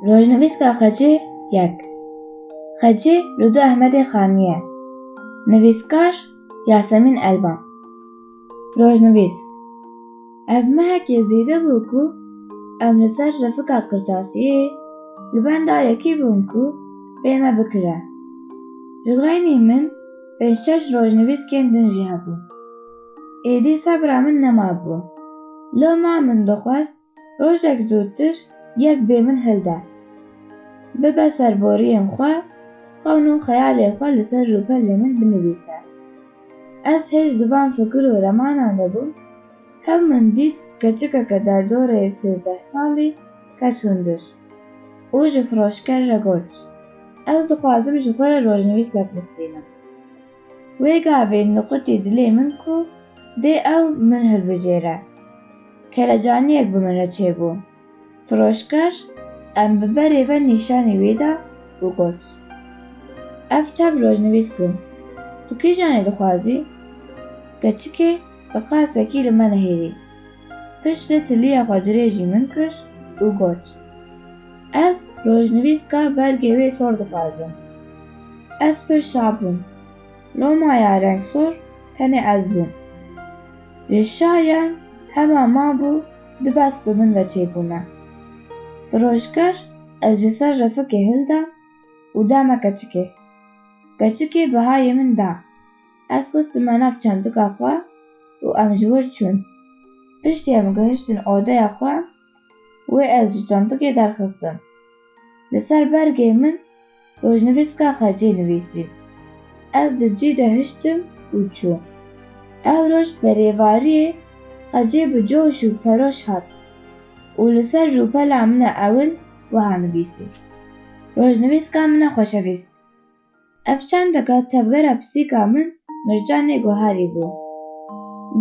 Rojnivîska Xecî yek Xecî li du Ehmedê Xanî ye Nivîskar Yasemîn Elvan Rojnivîsk Ev mehekê zêde bû ku em li ser Refika Qirtasiyê li benda yekî bûn ku bê me bikire. Li xeynî min pênc şeş rojnivîskên din jî hebûn. Êdî sebra min nemabû. Loma min dixwest rojek zûtir yek bê min hil de. Bibe serboriyên xwe, xewn û xeyalên xwe li ser rûpelê min binivîse. Ez hêj di van fikir û remanan de bûm, hew min dît keçikeke derdoreyê sêzdeh salî ket hundir û ji firoşker re got, Ez dixwazim ji xwe re rojnivîsnek bistînim. Wê gavê niqutî dilê min ku dê ew min hilbijêre. Kelecaniyek bi min re çêbû. Firoşker em bi berê ve nîşanî wî da û got, Ev tep rojnivîs kin. Tu kîjanê dixwazî? Keçikê bi qasekî li me nehêlî. Piştî tiliya xwe dirêjî min kir û got, Ez rojnivîska bergê wê sor dixwazim. Ez pir şa bûm. Loma ya rengsor tenê ez bûm. Ji şa ya hema mabû du besk bi min ve çêbûne. Firoşger ez ji ser refikê hilda û da me keçikê. Keçikê bihayê min da. Ez xistim nav çandika xwe û em ji wir çûn. Piştî em gihiştin odeya xwe, wê ez ji çandikê derxistim. Li ser bergê min rojnivîska xecê nivîsî. Ez di cî de hiştim û çûm. Ew roj bi rêvariyê xecê bi coş û peroş hat û li ser rûpela min e ewil wiha nivîsî, Rojnivîska min e xweşevîst. Ev çandeka tevgera pisîka min Mircanê Goharî bû.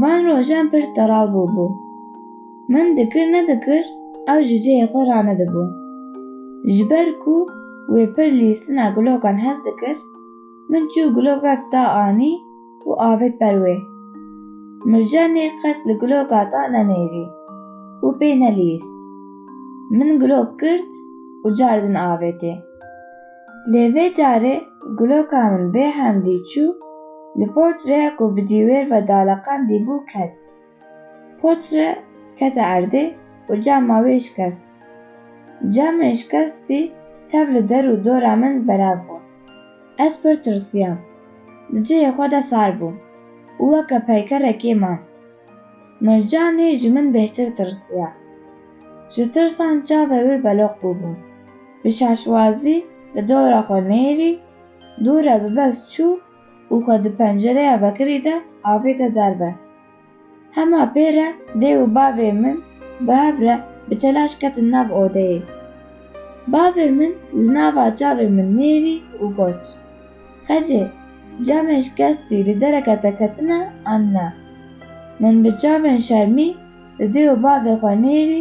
Van rojan pir teral bûbû. Min dikir nedikir ew ji cihê xwe ranedibû. Ji ber ku wê pir lîstina gilokan hez dikir, min çû gilokek da anî û avêt ber wê. Mircanê qet li giloka ta nenêrî û pê nelîst. Min gilok girt û cardin avêtê. Lê vê carê guloka min bê hemdî çû li portrêya ku bi dîwêr ve daleqandî bû ket. Portre kete erdê û cama wê şikest. Camê şikestî tev li der û dora min belav bû. Ez pir tirsiyam. Di cihê xwe de sar bûm û weke peykerekê mam. Mircanî ji min bêhtir tirsiya. Ji tirsan çavê wê beloq bûbûn. Bi şaşwazî di dora xwe nêrî, dora bi bes çû û xwe di pencereya vekirî de avêta derve. Hema pê re dê û bavê min bi hev re bi telaş ketin nav odeyê. Bavê min li nava çavê min nêrî û got, Xecê, camê şikestî li dereke te ketine an na? Min bi çavên şermî di dê û bavê xwe nêrî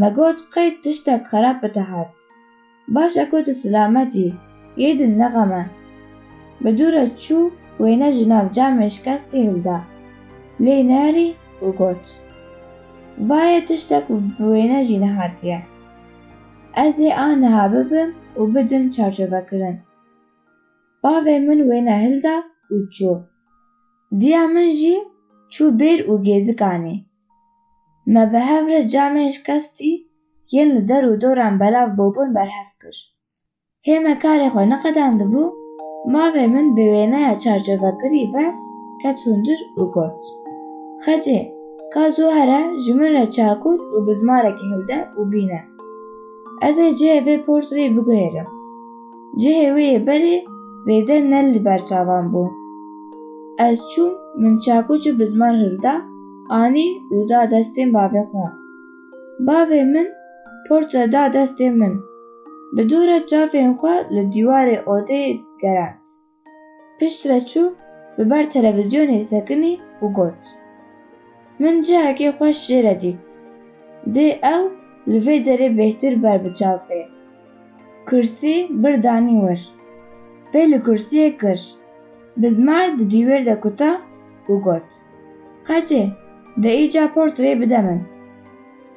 Me got qey tiştek xerab bi te hat. Baş e ku tu silamet î, yê din nexeme. Bi dû re çû wêne ji nav camê şikestî hilda. Lê nêrî û got, Va yê tiştek bi wêne jî nehatiye. Ez ê a niha bibim û bidim çarçovekirin. Bavê min wêne hilda û çû. Diya min jî çû bêr û gêzikanî. Me bi hev re camên şikestî yên li der û doran belav bûbûn berhev kir. Hê me karê xwe niqedandibû, mavê min bi wêneya çarçovekirî ve ket hundir û got, Xecê, ka zû here ji min re çakûr û bizmarekî hilde û bîne. Ez ê cihê vê portreyê biguhêrim. Cihê wê yê berê zêde ne li ber çavan bû. Ez çûm, min çakûç û bizmar hilda, Anî û da destên bavê xwe. Bavê min portre da destê min. Bi dû re çavên xwe li dîwarê odeyê gerand. Pişt re çû bi ber televîzyonê sekinî û got, Min cihekê xweş jê re dît. Dê ew li vê derê bêhtir ber bi çav bê. Kursî bir danî wir. Pê li kursiyê kir. Bizmar di dîwêr de kuta û got, Qeçê, de îca portreyê bide min.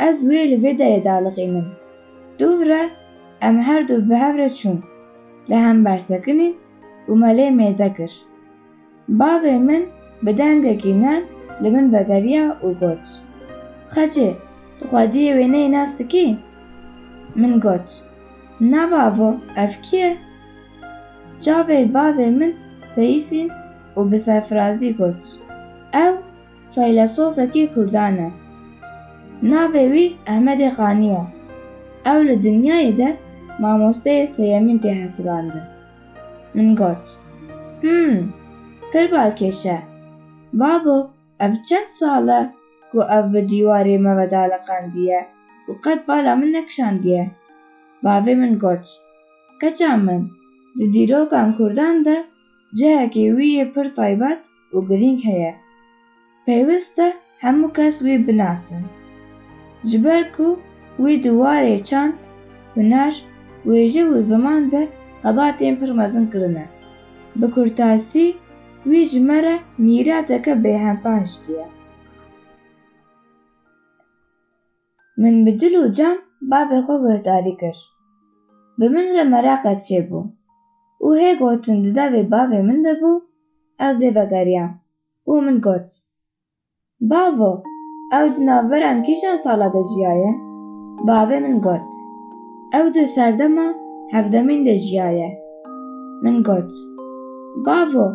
Ez wê li vê derê de aliqînim. Dûv re em her du bi hev re çûn. Li hember sekinîn û me lê mêze kir. Bavê min bi dengekî nerm li min vegeriya û got, Xecê, tu xwediyê wêneyê nas dikî? Min got, Na bavo, ev kî ye? Çavê bavê min teyîsîn û bi serfirazî got, Ew feylesofekî kurdan e. Navê wî Ehmedê Xanî ye. Ew li dinyayê de mamosteyê sêyemîn tê hesibandin. Min got, Him, pir balkêş e. Babo, ev çend sal e ku ev bi dîwarê me ve daliqandiye û qet bala min nekişandiye. Bavê min got, Keça min, di dîrokan kurdan de cihekî wî yê pir taybet, û girîng heye. Pêwist e hemû kes wî binasin. Ji ber ku wî di warê çand, huner, wêje û ziman de xebatên pir mezin kirine. Bi kurtasî wî ji me re mîrateke bêhempa hiştiye. Min bi dil û can bavê xwe guhdarî kir. Bi min re meraqek çêbû û hê gotin di devê bavê min de bû, ez lê vegeriyam û min got, Bavo, ew di navberan kîjan sala de jiyaye? Bavê min got, Ew di serdema hevdemîn de jiyaye. Min got, Bavo,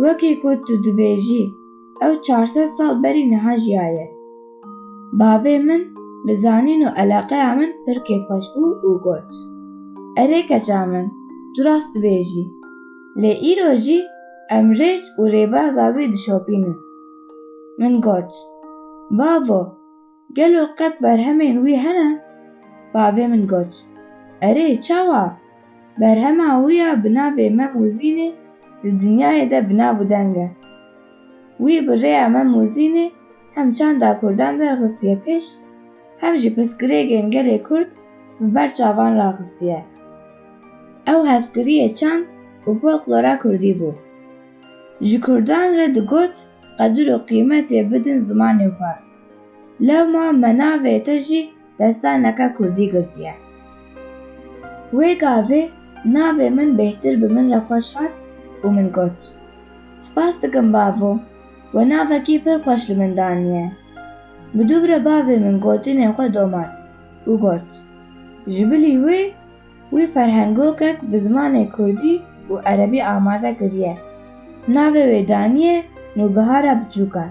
wekî ku tu dibêjî, Ew çar sed sal berî niha jiyaye. Bavê min bi zanîn û eleqeya min pir kêfxweş bû û got, Erê keça min, tu rast dibêjî. Lê îro jî em rêç û rêbaza wî dişopînin. Min got, Bavo! Gelo qet berhemên wî hene? Bavê min got, Erê çawa? Berhema wî ya bi navê Mem û Zînê di dinyayê de bi nav û deng e. Wî bi rêya Mem û Zînê hem çanda kurdan derxistiye pêş, hem jî pirsgirêgên gelê kurd bi ber çavan raxistiye. Ew hezkiriyê çand û folklora kurdî bû. Ji kurdan re digot qedir û qîmetê bidin zimanê xwe. Lewma me navê te jî destaneke kurdî girtiye. Wê gavê navê min bêhtir bi min re xweş hat û min got, Spas dikim bavo, we navekî pir xweş li min daniye. Bi dû re bavê min gotinên xwe domat û got, Ji bilî wê, Wî ferhengokek bi zimanê kurdî û erebî amade kiriye. Navê wê daniye Nûbihara Biçûka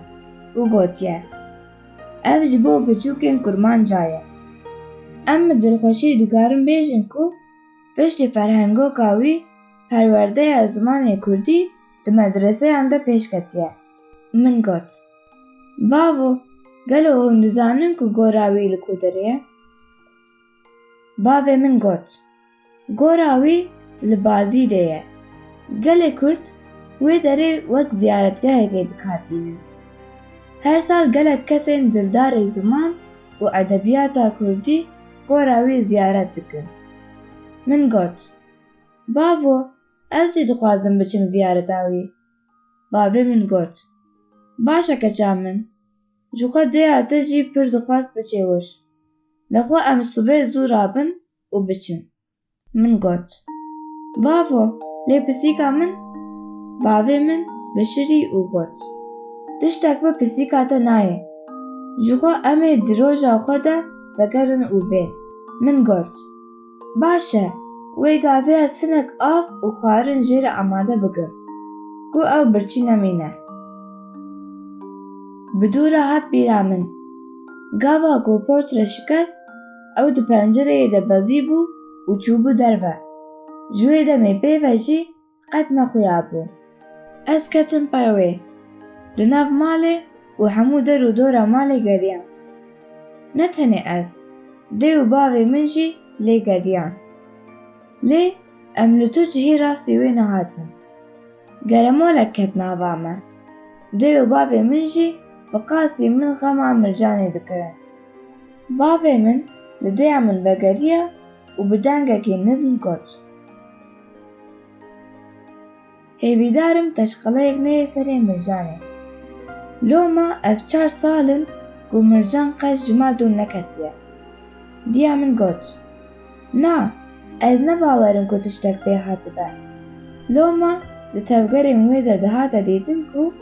û gotiye, Ev ji bo biçûkên kurmanca ye. Em bi dilxweşî dikarin bêjin ku piştî ferhengoka wî perwerdeya zimanê kurdî di medreseyan de pêş ketiye. Min got, Bavo, gelo hûn dizanin ku gora wî li ku derê ye? Bavê min got, Gora wî li Bazîdê ye. Gelê Kurd wê derê wek ziyaretgehekê dikhatînin. Her sal gelek kesên dildarê ziman û edebiyata Kurdî gora wî ziyaret dikin. Min got, Bavo, ez jî dixwazim biçim ziyareta wî. Bavê min got, Baş e keça min. Ji xwe dêya te jî pir dixwast biçê wir. Lexwe em sibê zû rabin û biçin. Min got, Bavo, lê pisîka min? Bavê min bişirî û got, Tiştek bi pisîka te nayê. Ji xwe em ê di roja xwe de vegerin û bên. Min got, Baş e, wê gavê ez hinek av û xwarin jê re amade bikim ku ew birçî nemîne. Bi dû re hat bîra min. Gava ku porç re şikest, ew di pencereyê de bezîbû û çûbû derve. Ji wê demê pê ve jî Qet nexuyabû. Ez ketim pey wê. Li nav malê û hemû der û dora malê geriyam. Ne tenê ez, dê û bavê min jî lê geriyan. Lê em li tu cihê rastî wê nehatin. Geremalek ket nava me. Dê û bavê min jî bi qasî min xema Mircanê dikirin. Bavê min li dêya min vegeriya û bi dengekî nizm got. Hêvîdar im qeşqeleyek neyê serê Mircanê. Loma ev çar sal in ku Mircan qet ji mal dûr neketiye. Diya min got, Na, ez ne bawer im ku tiştek pê hatibe. Loma di tevgerên wê de dihate dîtin ku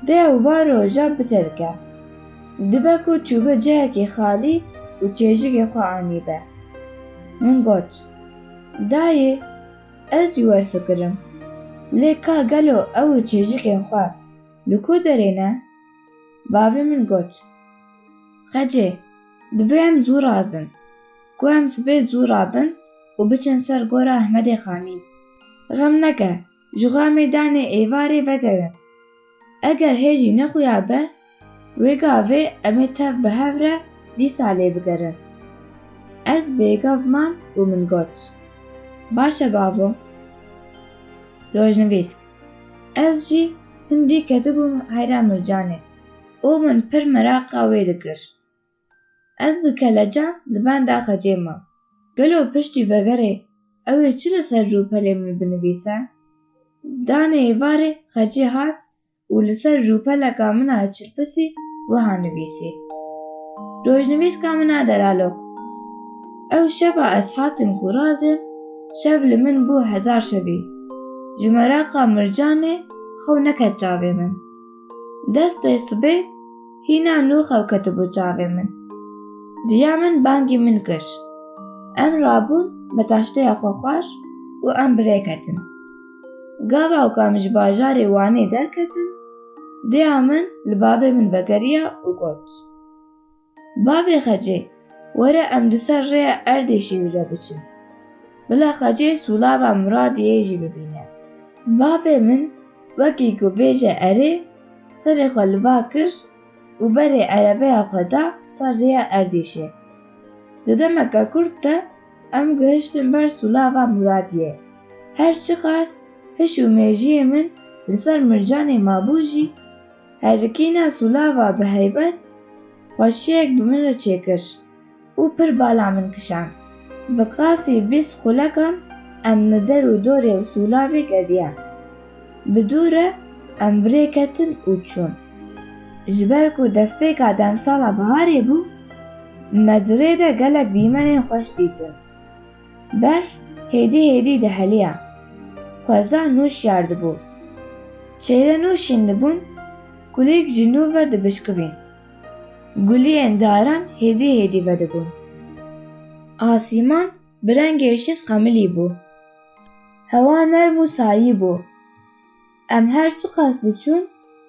dê ew va roja bitelike. Dibe ku çûbe cihekî xalî û çêjikê xwe anîbe. Min got. Dayê, ez jî we fikirim. Lê ka gelo ew û çêjikên xwe li ku derê ne? Bavê min got, Xecê, divê em zû razin, ku em sibê zû rabin û biçin ser gora Ehmedê Xanî. Xem neke. Ji xwe mêdanê êvarê vegerin. Eger hê jî nexuya be, wê gavê em ê tev bi hev re dîsa lê bigerin. Ez bêgav mam û min got, Baş e bavo. Rojnivîsk, Ez jî hindî ketibûm heyra Mircanê û min pir meraqa wê dikir. Ez bi kelecan li benda xecê mam. Gelo piştî vegerê ew ê çi li ser rûpelê min binivîse? Danê êvarê xecê hat û li ser rûpeleka min a çilpisî wiha nivîsî, Rojnivîska min a delalok. Ew şeva ez hatim ku razê, şev li min bû hezar şevî. Ji meraka mircanê xew neket çavê min. Destê sibê hîna nû xew ketibû çavê min. Diya min bangî min kir. Em rabûn bi taşteya xwexwar û em bi rê ketin. Gava û ka min ji bajarê Wanê derketin, dêya min li bavê min vegeriya û got. Bavê Xecê, were em di ser rêya erdê şêwî re biçin. Bila Xecê Sûlava Miradiyê jî bibîne. Bavê min wekî ku bêje erê, serê xwe li ba kir û berê erebeya xwe da ser rêya Erdîşê. Di demeke kurt de em gihiştin ber Sûlava Miradiyê. Her çiqas hiş û mêjiyê min li ser mircanê mabû jî, Herikîna Sûlava bi heybet xweşiyek bi min re çêkir û pir bala min kişand. Bi qasî bîst xulekan em li der û dorê Sûlavê geriyan. Bi dû re em bi rê ketin û çûn. Ji ber ku destpêka demsala biharê bû, me di rê de gelek dîmenên xweş dîtin. Berf hêdî hêdî diheliya. Xweza nû şiyar dibû. Çêre nû şîn dibûn, kulîlk jî nû ve dibişkivîn. Guliyên daran hêdî hêdî vedibûn. Asîman bi rengê şîn xemilî bû. Hewa nerm û sayî bû. Em her çiqas diçûn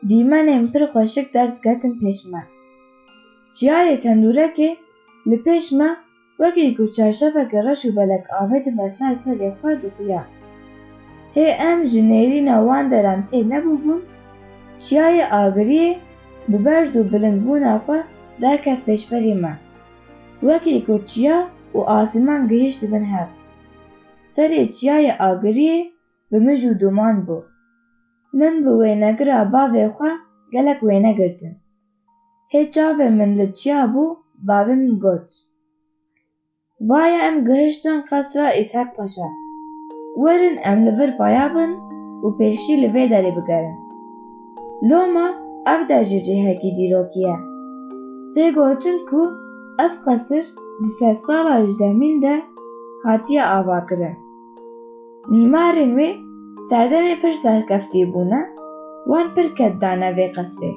dîmenên pir xweşik derdiketin pêş me. Çiyayê tendûrekê li pêş me Wekî ku çarşafeke reş û belek avê dibe ser serê xwe dixuya. Hê em ji nêrîna wan deran tê nebûbûn, çiyayê agiriyê bi berz û bilindbûna xwe derket pêşberî me. Wekî ku çiya û asîman gihîştibin hev. Serê çiyayê agiriyê bi mij û duman bû. Min bi wênegira bavê xwe gelek wêne girtin. Hê çavê min li çiya bû bavê min got, Vaye em gihiştin qesra Îshak Paşa. Werin em li vir paya bin û pêşî li vê derê bigerin. Loma ev der jî cihekî dîrokî ye. Tê gotin ku ev qesir di sedsala hejdehmîn de hatiye avakirin. Mîmarên wê serdemê pir serkeftî bûne, wan pir ked dane vê qesrê.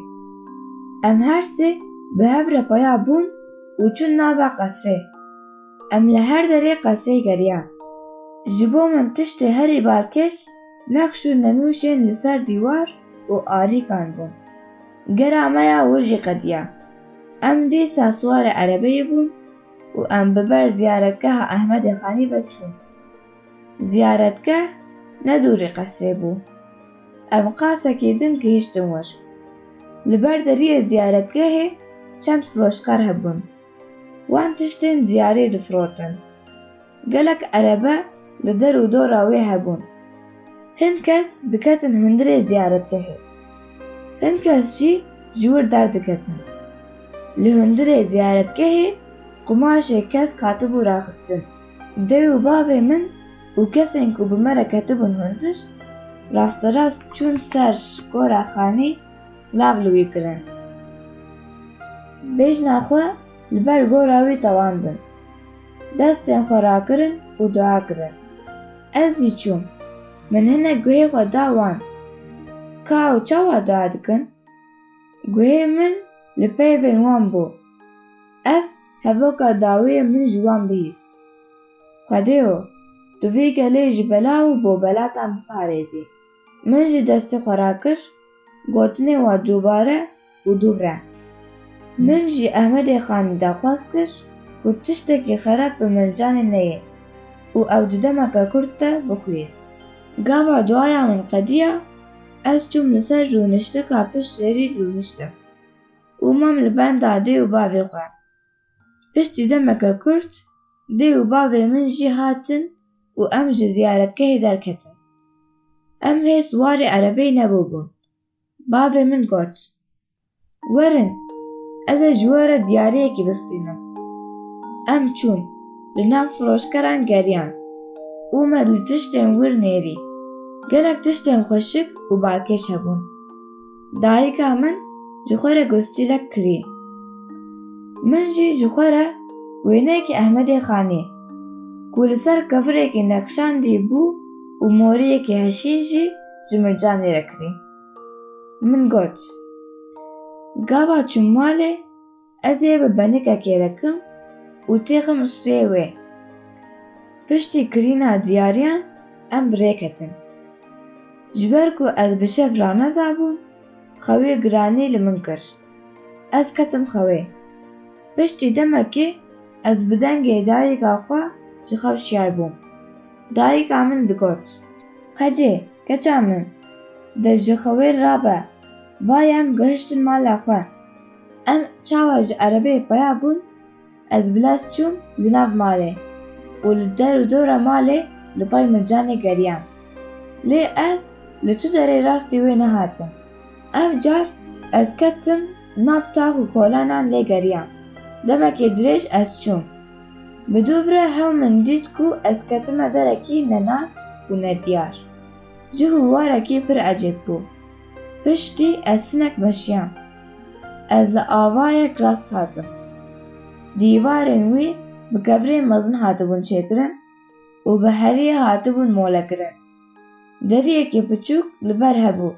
Em her sê bi hev re peya bûn û çûn nava qesrê. Em li her derê qesrê geriyan. Ji bo min tiştê herî balkêş nexş û nenûşên li ser dîwar û arîkan bûn. Gera me ya wir jî qediya. Em dîsa siwarê erebeyê bûn. û em bi ber ziyaretgeha Ehmedê Xanî ve çûn. Ziyaretgeh ne dûrî qesrê bû. Em qasekî din gihiştin wir. Li ber deriyê ziyaretgehê çend firoşkar hebûn. Wan tiştên diyarê difrotin. Gelek erebe li der û dora wê hebûn. Hin kes diketin hundirê ziyaretgehê. Hin kes jî ji wir derdiketin. Li hundirê ziyaretgehê qumaşê kesk hatibû raxistin. Dê û bavê min û kesên ku bi me re ketibûn hundir, rasterast çûn ser gora xanî silav li wî kirin. Bêjna xwe Li ber gora wî tewandin. Destên xwe rakirin û dua kirin. Ez jî çûm. Min hinek guhê xwe da wan. Ka ew çawa dua dikin? Guhê min li peyvên wan bû. Ev hevoka dawiyê min ji wan bihîst. Xwedêyo, tu vê gelê ji bela û bobelatan biparêzî. Min jî destê xwe rakir gotinê we dubare û dubre. Min jî Ehmedê Xanî daxwaz kir ku tiştekî xerab bi min canê neyê û ew di demeke kurt de bixuyê. Gava duaya min qediya, ez çûm li ser rûniştika pişt şêrî rûniştim û mam li benda dê û bavê xwe. Piştî demeke kurt dê û bavê min jî hatin û em ji ziyaretgehê derketin. Em hê siwarê erebeyê nebûbûn. Bavê min got, Werin, ez ê ji we re diyariyekî bistînim. Em çûn, li nav firoşkeran geriyan û me li tiştên wir nêrî. Gelek tiştên xweşik û balkêş hebûn. Dayika min ji xwe re gostîlek kirî. Min jî ji xwe re wêneyekî Ehmedê Xanî, ku li ser kevirekî nexşandî bû û moriyekî heşîn jî ji Mircanî re kirî. Min got, Gava çûm malê. Ez ê bi benikekê re kim û têxim stûyê wê. Piştî kirîna diyariyan em bi rê ketin. Ji ber ku ez bi şev ranezabûm, xewê giranî li min kir. Ez ketim xewê. Piştî demekê ez bi dengê dayika xwe ji xew şiyar bûm. Dayika min digot. Qecê, keça min, de ji xewê rabe, va yem gihiştin mala xwe. Em çawa ji erebê peya bûn, ez bi lez çûm di nav malê û li der û dora malê li pay Mircanê geriyam. Lê ez li tu derê rastî wê nehatim. Ev car ez ketim nav tax û kolanan lê geriyam. Demekê dirêj ez çûm. Bi dûvre hew min dît ku ez ketime derekî nenas û nediyar. Cih û warekî pir ecêb bû. Piştî ez hinek meşiyam. Ez li avayek rast hatim. Dîwarên wî bi kevirên mezin hatibûn çêkirin û bi heriyê hatibûn molekirin. Deriyekî piçûk li ber hebû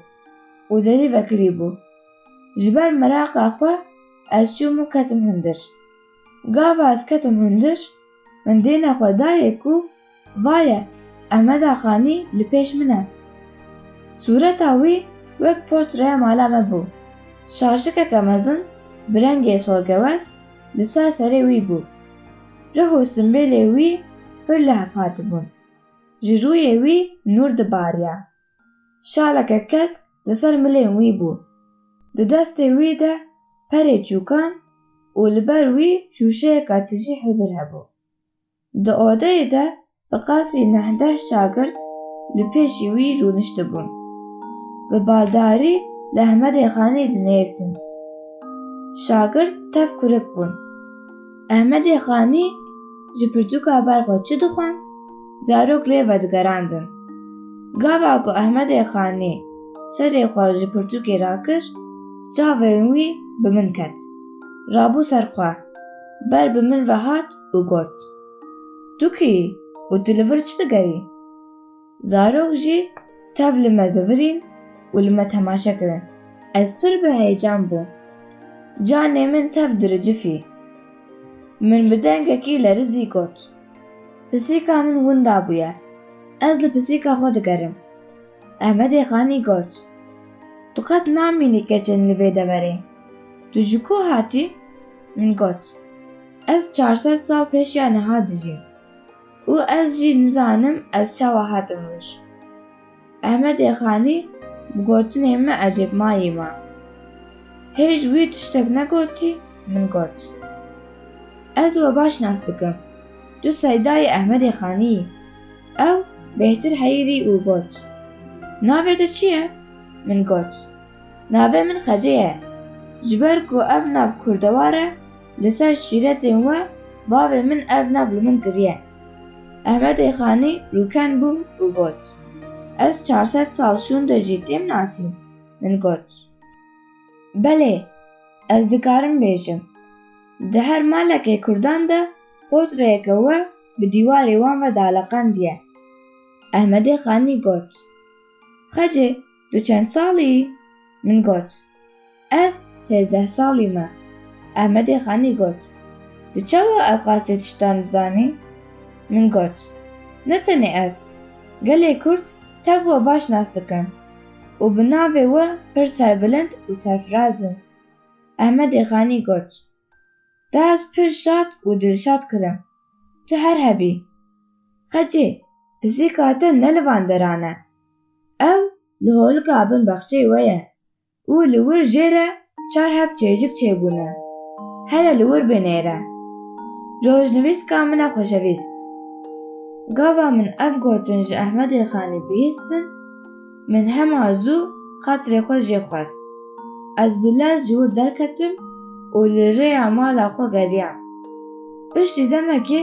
û derî vekirî bû. Ji ber meraqa xwe ez çûm û ketim hundir. Gava ez ketim hundir, min dêne xwe dayê ku vaye Emeda Xanî li pêş min e. Sûreta wî wek portreya mala me bû. Şaşikeke mezin bi rengê sorgewes li ser serê wî bû. Rih û simbêlê wî pir lehf hatibûn. Ji rûyê wî nûr dibariya. Şaleke kesk li ser milên wî bû. Di destê wî de perê çûkan û li ber wî şûşeyeka tijî hibir hebû. Di odeyê de bi qasî neh-deh şagirt li pêşî wî rûniştibûn. Bi baldarî li Ehmedê Xanî dinêrtin. Şagirt tev kurik bûn. Ehmedê Xanî ji pirtûka ber xwe çi dixwend? Zarok lê vedigerandin. Gava ku Ehmedê Xanî serê xwe ji pirtûkê rakir, çavên wî bi min ket. Rabû ser xwe, ber bi min ve hat û got, Tu kî yî û tu li vir çi digerî? Zarok jî tev li me zivirîn û li me temaşe kirin. Ez pir bi heyecan bûm. Canê min tev diricifî. Min bi dengekî lerizî got. Pisîka min winda bûye. Ez li pisîka xwe digerim. Ehmedê Xanî got, Tu qet namînî keçên li vê deverê. Tu ji ku hatî? Min got, Ez çar sed sal pêşiya niha dijîm. Û ez jî nizanim ez çawa hatim wir. Ehmedê Xanî bi gotinên min ecêbmayî ma. Hêj wî tiştek negotî, min got. Ez we baş nas dikim. Tu seydayê Ehmedê Xanî yî. Ew bêhtir heyîrî û got. Navê te çi ye? Min got. Navê min Xece ye. Ji ber ku ev nav kurdewar e, Li ser şîretên we bavê min ev nav li min kiriye. Ehmedê Xanî rûken bû û got, Ez çar sed sal şûnde jî têm nasîn. Min got, Belê, ez dikarim bêjim. Di her malekê kurdan de potreyeke we bi dîwarê wan ve daleqendiye. Ehmedê Xanî got, Xecê! Tu çend sal î? Min got, Ez sêzdeh sal î me. Ehmedê Xanî got, Tu çawa ev qastê tiştan dizanî? Min got, Ne tenê ez, gelê Kurd tev we baş nas dikin û bi navê we pir serbilind û serfiraz in. Ehmedê Xanî got, Da ez pir şad û dilşad kirim. Tu her hebî. Xecê, pisîka te ne li van deran e. Ew li holika bin bexçeyê we ye û li wir jê re çar heb çêjik çêbûne. Here li wir bê nêre. Rojnivîska min e xweşevîst. Gava min ev gotin ji Ehmedê Xanî bihîstin, min hema zû xatirê xwe jê xwest. Ez bi lez ji wir derketim û li rêya mala xwe geriyam. Piştî demekê,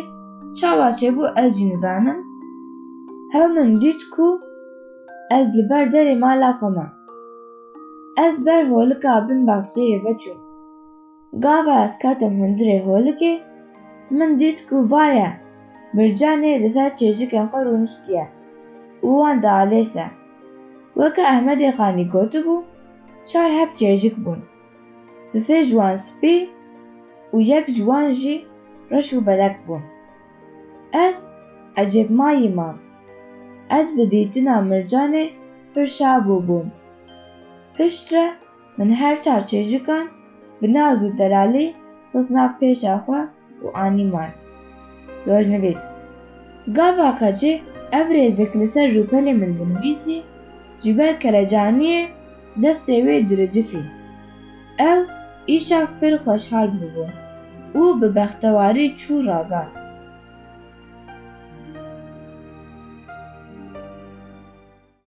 Çawa çêbû ez jî nizanim. Hew min dît ku ez li ber derê mala xwe mam. Ez ber holika bin baxçeyê ve çûm. Gava ez ketim hundirê holikê, min dît ku vaye Mircanê li ser çêjikên xwe rûniştiye û wan dialêse. Weke Ehmedê Xanî gotibû, çar heb çêjik bûn. Sisê ji wan spî û yek ji wan jî reş û belek bûn. Ez ecêbmayî mam. Ez bi dîtina Mircanê pir şabû bûm. Pişt re min her çar çêjikan bi naz û delalî xist nav pêşa xwe û anîman. Rojnivîs. Gava qecê ev rêzik li ser rûpelê min dinivîsî, ji ber kelecaniyê Destê wê diricifî. Ew îşev pir xweşhal bûbû û bi bextewarî çû Razan.